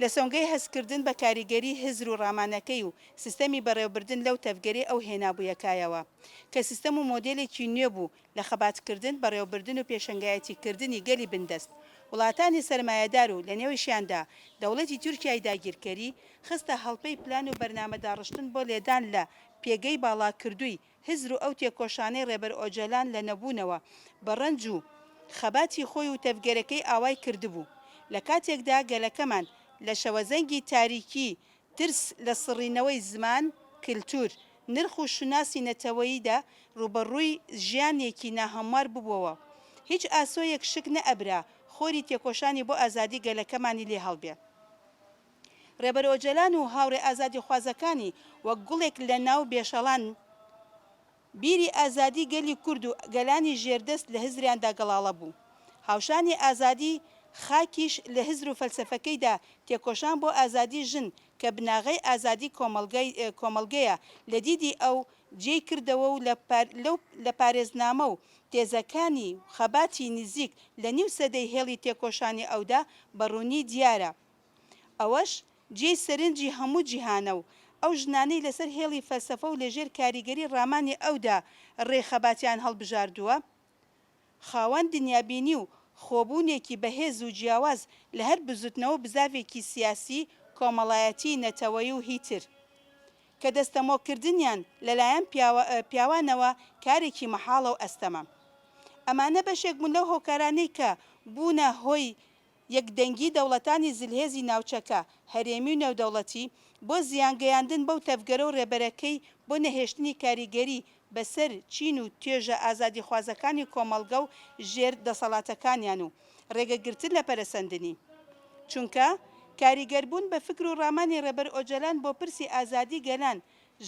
لە سۆنگەی هەستکردن بە کاریگەری هزر و ڕامانەکەی و سیستەمی بەڕێوەبردن لەو تەڤگەرەی ئەو هێنابوویە کایەوە، کە سیستەم و مۆدێلێکی نوێ بوو لە خەباتکردن، بەڕێوەبردن و پێشەنگایەتیکردنی گەلی بندەست، وڵاتانی سەرمایەدار و لە نێویشیاندا دەوڵەتی تورکیای داگیرکەری، خستە هەڵپەی پلان و بەرنامە داڕشتن بۆ لێدان لە پێگەی باڵاکردووی هزر و ئەو تێکۆشانەی ڕێبەر ئۆجالان لە نەبوونەوە بە ڕەنج و خەباتی خۆی و تەڤگەرەکەی ئاوای کردبوو لە کاتێکدا گەلەکەمان لە شەوەزەنگی تاریکی ترس لە سڕینەوەی زمان، کلتور، نرخ و شوناسی نەتەوەییدا ڕووبەڕووی ژیانێکی ناهەموار ببوەوە. هیچ ئاسۆیەک شک نەئەبرا خۆری تێکۆشانی بۆ ئازادی گەلەکەمانی لێ هەڵبێ. ڕێبەر ئۆجەلان و هاوڕێ ئازادیخوازەکانی وەک گوڵێک لە ناو بێشەڵان، بیری ئازادی گەلی کورد و گەلانی ژێردەست لە هزریاندا گەڵاڵە بوو. هاوشانی ئازادی خاکیش لە هزر و فەلسەفەکەیدا تێکۆشان بۆ ئازادی ژن کە بناغەی ئازادی کۆمەڵگەیە لە دیدی ئەو جێی کردەوە و لە پارێزنامە و تێزەکانی و خەباتی نزیک لە نیو سەدەی هێڵی تێکۆشانی ئەودا بە ڕوونی دیارە. ئەوەش جێی سەرنجی هەموو جیهانە و ئەو ژنانەی لەسەر هێڵی فەلسەفە و لەژێر کاریگەری ڕامانی ئەودا ڕێی خەباتیان هەڵبژاردووە، خاوەن دنیابینی و خۆبوونێکی بەهێز و جیاواز لە هەر بزوتنەوە و بزاڤێکی سیاسی، کۆمەڵایەتی، نەتەوەیی و هی تر، کە دەستەمۆکردنیان لەلایەن پیاوانەوە کارێکی مەحاڵە و ئەستەمە. ئەمانە بەشێک بوون لەو هۆکارانەی کە بوونە هۆی یەکدەنگی دەوڵەتانی زلهێزی ناوچەکە، هەرێمی و نێودەوڵەتی، بۆ زیان گەیاندن بەو تەڤگەرە و رێبەرەکەی بۆ نەهێشتنی کاریگەری بەسەر چین و توێژە ئازادیخوازەکانی کۆمەڵگە و ژێر دەسەڵاتەکانیان و رێگەگرتن لە پەرەسەندنی چونکە کاریگەربوون بە فکر و رامانی رێبەر ئۆجەلان بۆ پرسی ئازادی گەلان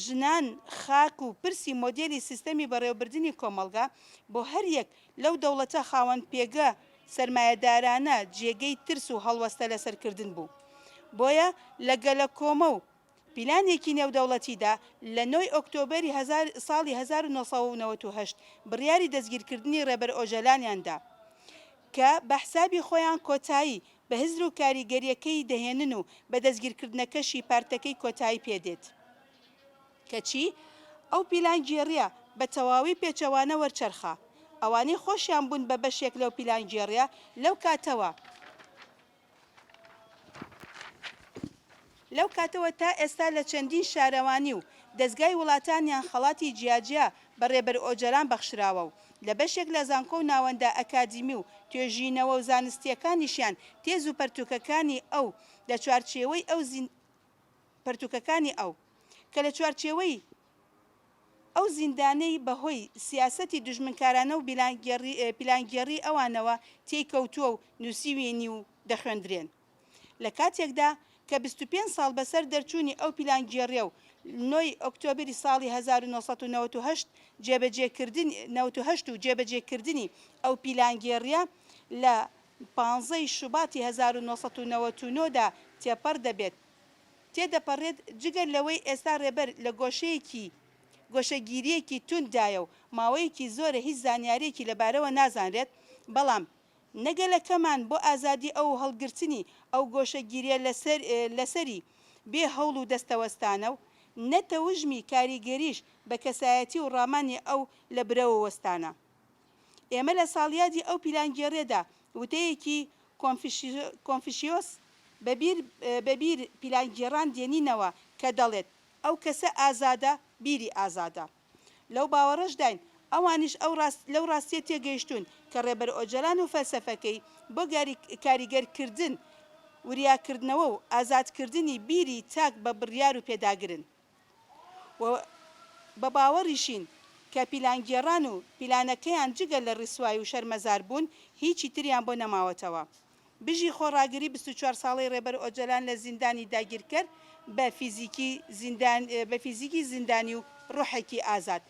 ژنان، خاک و پرسی مۆدێلی سیستەمی بەڕێوەبردنی کۆمەڵگا، بۆ هەریەک لەو دەوڵەتە خاوەن پێگە سەرمایەدارانە جێگەی ترس و هەڵوەستە لەسەر کردن بوو. بۆیە لە گەلەکۆمە و پیلانێکی نێودەوڵەتیدا لە نۆ ی ئۆکتۆبەری هەزار ساڵی هەزار و نۆ سەد و نەوەد و هەشت بڕیاری دەستگیرکردنی ڕێبەر ئۆجەلانیان دا. کە بە حسابی خۆیان کۆتایی بە هزر و کاریگەرییەکەی دەهێنن و بە دەستگیرکردنەکەشی پارتەکەی کۆتایی پێ دێت. کەچی ئەو پیلانگێڕییە بە تەواوی پێچەوانە وەرچەرخا. ئەوانەی خۆشیان بوون بە بەشێک لەو پیلانگێڕییە لەو کاتەوە لەو کاتەوە تا ئێستا لە چەندین شارەوانی و دەزگای وڵاتانیان خەڵاتی جیاجیا بە رێبەر ئۆجەلان بەخشراوە و لە بەشێک لە زانکۆ و ناوەندە ئەکادیمی و توێژینەوە و زانستییەکانیشیان تێز و پەرتووکەکانی ئەو لە چوارچێوەی ئەو پەرتووکەکانی ئەو کە لە چوارچێوەی ئەو زیندانەی بە هۆی سیاسەتی دوژمنکارانە و پیلانگێڕیی ئەوانەوە تێی کەوتووە و نووسیویینی و دەخوێندرێن لە کاتێکدا کە بیست و پێنج ساڵ بە سەر دەرچوونی ئەو پیلانگێڕییە و نۆی ئۆکتۆبری ساڵی هەزار و نۆ سەد و نەوەد و هەشت و جێبەجێ کردنی ئەو پیلانگێڕییە لە پانزەی شوباتی هەزار و نۆ سەد و نەوەد و نۆ دا تێپەڕ دەبێت. تێدەپەڕێت، جگە لەوەی ئێستا رێبەر لە گۆشەیەکی گۆشەگیرییەکی تونددایە و ماوەیەکی زۆرە هیچ زانیارییەکی لەبارەوە نازانرێت، بەڵام نە گەلەکەمان بۆ ئازادی ئەو و هەڵگرتنی ئەو گۆشەگیرییە لەسەری بێ هەوڵ و دەستەوەستانە و نە تەوژمی کاریگەریش بە کەسایەتی و رامانی ئەو لە برەوە وەستانە. ئێمە لە ساڵیادی ئەو پیلانگێڕێدا وتەیەکی کۆنفشیۆس بە بیر پیلانگێڕان دێنینەوە کە دەڵێت، ئەو کەسە ئازادە، بیری ئازادە. لەو باوەڕەشداین ئەوانیش لەو ڕاستیە تێگەیشتوون کە ڕێبەر ئۆجەلان و فەلسەفەکەی بۆ کاریگەرکردن، وریاکردنەوە و ئازادکردنی بیری تاک بە بڕیار و پێداگرن. و بە باوەڕیشین کە پیلانگێڕان و پیلانەکەیان جگە لە ڕیسوای و شەرمەزار بوون هیچی تریان بۆ نەماوەتەوە. بژی خۆڕاگری بیست و چوار ساڵەی ڕێبەر ئۆجەلان لە زیندانی داگیرکەر بە فیزیکی زیندانی و ڕۆحێکی ئازاد.